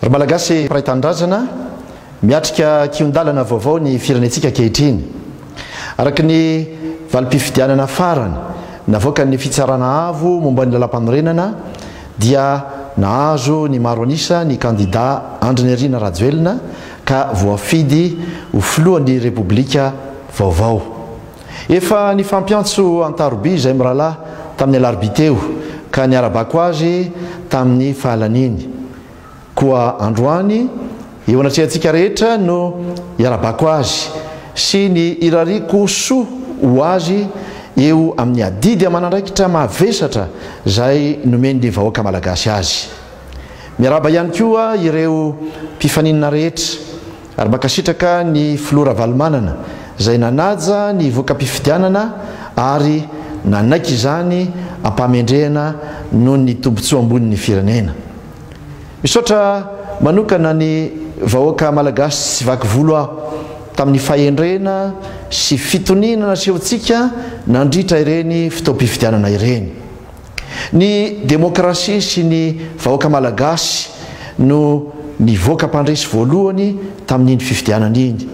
Ry Malagasy mpiray tanindrazana, miatrika kihon-dalana vaovao ny firenentsika ankehitriny. Araka ny valim-pifidianana farany navoakan'ny Fitsarana Avo momba ny Lalàmpanorenana dia nahazo ny maro an'isa ny kandidà Andrinirina Rajoelina ka voafidy ho Filohan'ny Repoblika vaovao. Efa nifampiantso an-taroby izahay mirahalahy tamin'ny alarobia teo ka niara-bako azy tamin'ny fahalaniany. Koa androany, eo anatrehantsika rehetra no iara-bako azy sy ny irariako soa ho azy eo amin'ny adidy aman'andraikitra mavesatra izay nomen'ny vahoaka malagasy azy. Miarahaba ihany koa ireo mpifaninana rehetra. Ary mankasitraka ny Filoha Ravalomanana izay nanaja ny voka-pifidianana ary nanaiky izany am-pahamendrehana noho ny tombotsoa ambony ny firenena. Misaotra manokana ny vahoaka Malagasy tsy vaky volo aho tamin'ny fahendrena sy fitoniana nasehontsika nandritra ireny fotoam-pifidianana ireny. Ny demokrasia sy ny vahoaka malagasy no nivoaka mpandresy voalohany tamin'iny fifidianana iny.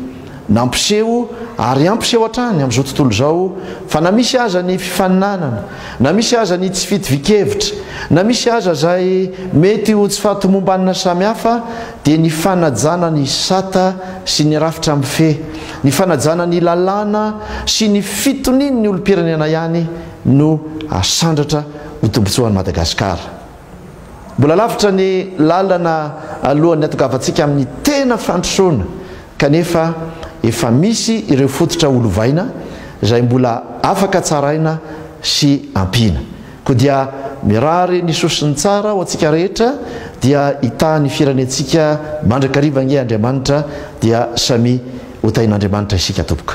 Nampiseho ary hampiseho hatrany amin'izao tontolo izao fa na misy aza ny fifaninanana, na misy aza ny tsy fitovian-kevitra, na misy aza izay mety ho tsy fahatomombanana samihafa dia ny fanajana ny sata sy ny rafitra mifehy, ny fanajana ny lalàna sy ny fitonian'ny olom-pirenena ihany no asandratra ho tombotsoan'i Madagasikara. Mbola lavitra ny lalana alohan'ny hatongavantsika amin'ny tena fandrosoana kanefa efa misy ireo fototra ho lovaina izay mbola afaka tsaraina sy ampiana. Koa dia mirary ny soa sy ny tsara ho antsika rehetra dia hitahin'ny firenentsika mandrakariva ange Andriamanitra dia samia ho tahin'Andriamanitra isika tompoko.